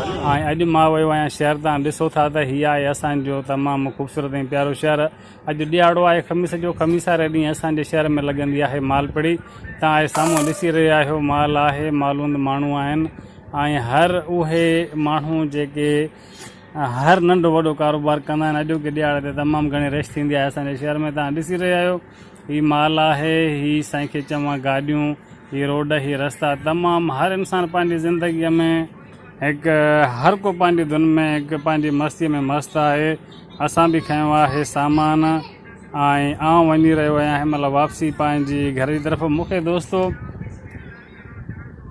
۽ اڄ مان ويو آهيان شهر تان ڏسو ٿا ته هي آهي اسان جو تمام خوبصورت ۽ پيارو شهر اڄ ڏيهاڙو آهي خميس جو خميس واري ڏينهن اسان جي شهر ۾ لڳندي آهي مال پڙي تان آهي سامهون ڏسي رهي آهيو مال آهي مالوند ماڻهو آهن ۽ هر اهي ماڻهو جيڪي هر ننڍو وڏو ڪاروبار ڪندا آهن اڄوڪي ڏيهاڙي تي تمام گهڻي رش ٿيندي آهي اسان جي شهر ۾ تان ڏسي رهي آهيو. هي مال آهي، هي سائين کي چوان گاڏيون، هي روڊ، هي رستا تمام هر انسان پنهنجي زندگيء ۾ هڪ هر ڪو پنهنجي ڌن ۾ هڪ پنهنجي مستيء ۾ مست آهي. اسان به کنيو آهي سامان ۽ آئون وڃي رهيو آهيان هن مهل واپسي پنهنجي گهر جي طرف مون کي دوستو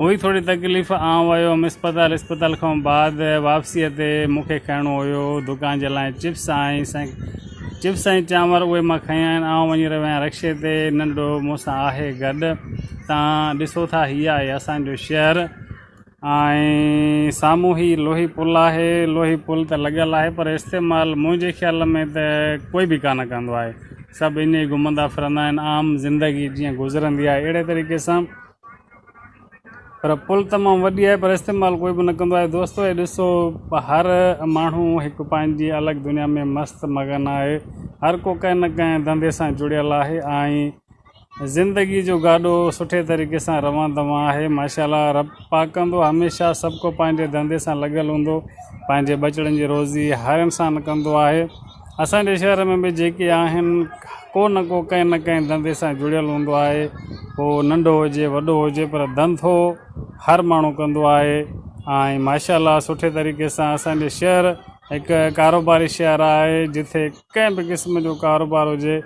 هئي ٿوري تڪليف، آئون ويو هئم اسپتال، اسپتال کان بعد واپسيء تي مون کي کائڻو هيو دڪان جي لاء چپس ۽ چپس ۽ چانور اهي مان کيا آهن، آئون وڃي رهيو آهيان رڪشي تي، ننڍڙو مون سان آهي گڏ، توهان ڏسو ٿا هي آهي اسان جو شهر ۽ سامهون هي لوهي پل آهي، لوهي پل ته لڳل آهي پر استعمال منهنجي خيال ۾ ته ڪوئي به ڪانه ڪندو آهي. سڀ ائين ئي گهمندا ڦرندا آهن عام زندگي جيئن گذرندي آهي اهڙي طريقي سان پر پل تمام وڏي آهي پر استعمال ڪوئي به نه ڪندو آهي دوستو هي ڏسو هر ماڻهو هڪ پنهنجي الڳ دنيا ۾ مست مگن آهي هر ڪو ڪنهن نه ڪنهن ڌنڌي سان جڙيل آهي ۽ زندگي جو گاڏو سٺي طريقي سان روان دوان آهي ماشاء الله رب پاڪ ڪندو هميشه سڀ ڪو پنهنجي ڌنڌي سان لڳل هوندو پنهنجي ٻچڙن جي روزي هر انسان ڪندو آهي اسان جي شهر ۾ به جيڪي آهن ڪو نه ڪو ڪنهن نه ڪنهن ڌنڌي سان جڙيل هوندو آهي هو ننڍو هجي وڏو هجي پر ڌنڌو هر ماڻهو ڪندو آهي ۽ ماشاء الله سٺي طريقي سان اسان جي شهر هڪ ڪاروباري شهر آهي جتي ڪنهن به قسم جو ڪاروبار هجي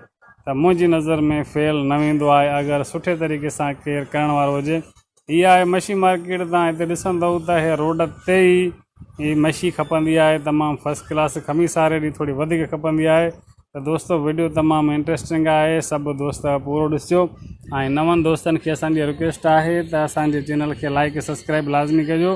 ته منهنجي نظر ۾ فيل نه ويندو آهي اگر سٺي طريقي سان ڪير ڪرڻ وارو هجي هي آهي مشي مارڪيٽ تان هتي ڏسندئو ته هي روڊ تي ئي هي مشي کپندي آهي تمام فرسٽ ڪلاس کمي ساري ڏينهن ٿوري وڌيڪ کپندي آهي ته دوستو وڊيو تمام انٽرسٽنگ آهي سڀ دوست پورو ڏسجو ۽ نون دوستن کي اسانجي رڪويسٽ آهي ته اسانجي چينل کي لائڪ سبسڪرائب لازمي ڪجو.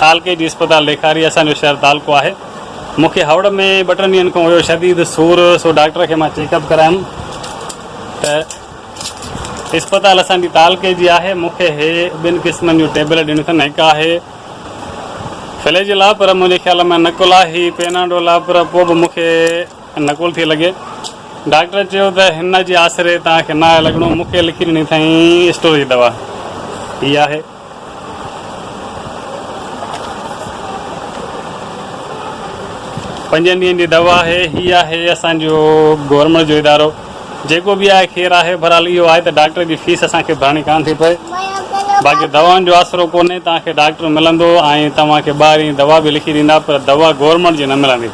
تعلقي جي اسپتال ڏيکاري اسان جو شهر تعلقو آهي مون کي هئڙ ۾ ٻه ٽن ڏينهن کان هيو شديد سور سو ڊاڪٽر کي مان چيڪ اپ ڪرايم ته اسپتال اسان جي تعلقي جي آهي مون کي هي ٻن قسمن جو ٽيبليٽ ڏنيون اٿن هڪ آهي فليجل آهي پر منهنجي خيال ۾ نقل آهي هي پيناڊول آهي پر پوء به مون کي نقل ٿي لڳي ڊاڪٽر چيو ته هن جي آسري توهان کي نه آهي لڳڻو مون کي لکي ڏني اٿائين اسٽور جي دوا هي آهي پنجن ڏينهن جي دوا آهي هي آهي اسان جو گورنمينٽ جو ادارو جيڪو به آهي خير آهي بھرحال اهو آهي ته ڊاڪٽر جي فيس اسان کي ڀرڻي ڪانه ٿي پئي باقي دوائن جو آسرو ڪونهي توهان کي ڊاڪٽر ملندو ۽ توهان کي ٻاهرين دوا به لکي ڏيندا پر دوا گورنمينٽ جي نه ملندي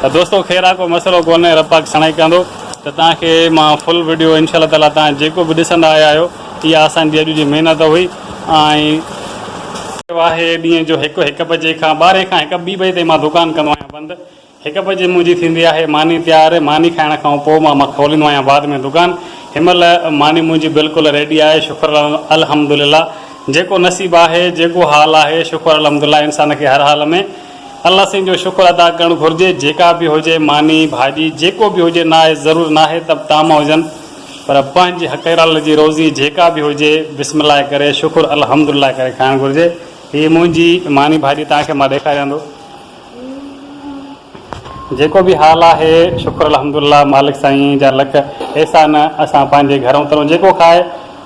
ته دوستو خير آهي ڪو مسئلو ڪونهي رب پاڪ سڻائي ڪندو ته توهان کي مان فل وڊيو انشاء الله تعالي توهان جيڪو به ڏسندا آيا آهيو اها اسان جي اڄ جي محنت هئي ۽ واهي ڏينهن جو هڪ هڪ بجي کان ٻارهين کان هڪ ٻي بجي تائين مان دوڪان ڪندو آهيان بند هڪ بجي منهنجي ٿيندي آهي ماني تيار ماني کائڻ کان پوء مان کوليندو آهيان بعد ۾ دوڪان هن مهل ماني منهنجي بلڪل ريڊي آهي شڪر الحمدلله جيڪو نصيب آهي جيڪو حال آهي شڪر الحمدلله انسان کي هر حال ۾ الله سائين جو شڪر ادا ڪرڻ گهرجي جيڪا به هجي ماني ڀاڄي جيڪو به هجي ناهي ضرور ناهي ته طعام هجن پر پنهنجي حقيرل جي روزي جيڪا به هجي بسم الله ڪري شڪر الحمد الله ڪري کائڻ گهرجي هي منهنجي ماني ڀاڄي توهان کي مان ڏيکاريان ٿو جيڪو به حال آهي شڪر الحمد الله مالڪ سائين جا لک احسان اسان پنهنجي گهر اترون جيڪو کائي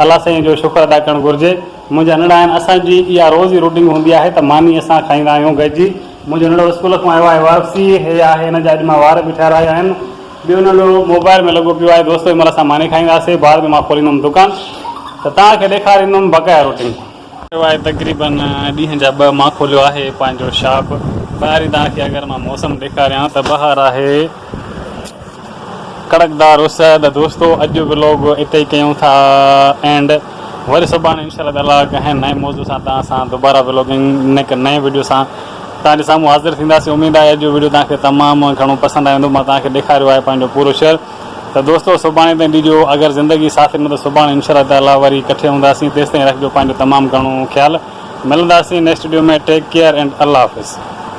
الله سائين جو شڪر ادا ڪرڻ گهرجي منهنجا ننڙا آهن اسان جي اها روزي روٽنگ هوندي آهي ته ماني اسان کائيندا آهيون گڏجي منهنجو ننڙو اسڪول کان آيو آهي واپسي هي آهي هن جا اڄ مان وار به ٺهرايا آهن. ٻيو ننڍو موبائل ۾ لڳو پيو آهي دوستو ان مهل اسان ماني کائينداسين بعد ۾ مان کوليندم دڪان ته توهان کي ڏيکاريندم بقايا روٽين. ٿيو آهي تقريباً ڏينهن جا ٻه مان کوليو آهي پنهنجو شاپ ٻاهرين توهان کي اگر مان موسم ڏيکاريان ته ٻاهر آهي ڪڙڪدار اس ته دوستو اڄ جو ولاگ اتي ئي ڪيون ٿا اينڊ وري سڀاڻي انشاء الله تعاليٰ ڪنهن نئين موضوع سان توهان سان دوباره ولاگنگ نئين وڊيو سان توهان جي سامهون حاضر ٿينداسين اميد آهي اڄ جو ويڊيو توهان کي تمام گهڻو پسند آيو هوندو مان توهان کي ڏيکاريو آهي پنهنجو پورو شهر ته دوستو سڀاڻي تائين ڏجو اگر زندگي ساٿ ڏنو ته سڀاڻي انشاء الله تعالي وري ڪٺي هونداسين تيستائين رکجو پنهنجو تمام گهڻو خيال ملنداسين next video ۾ take care and الله حافظ.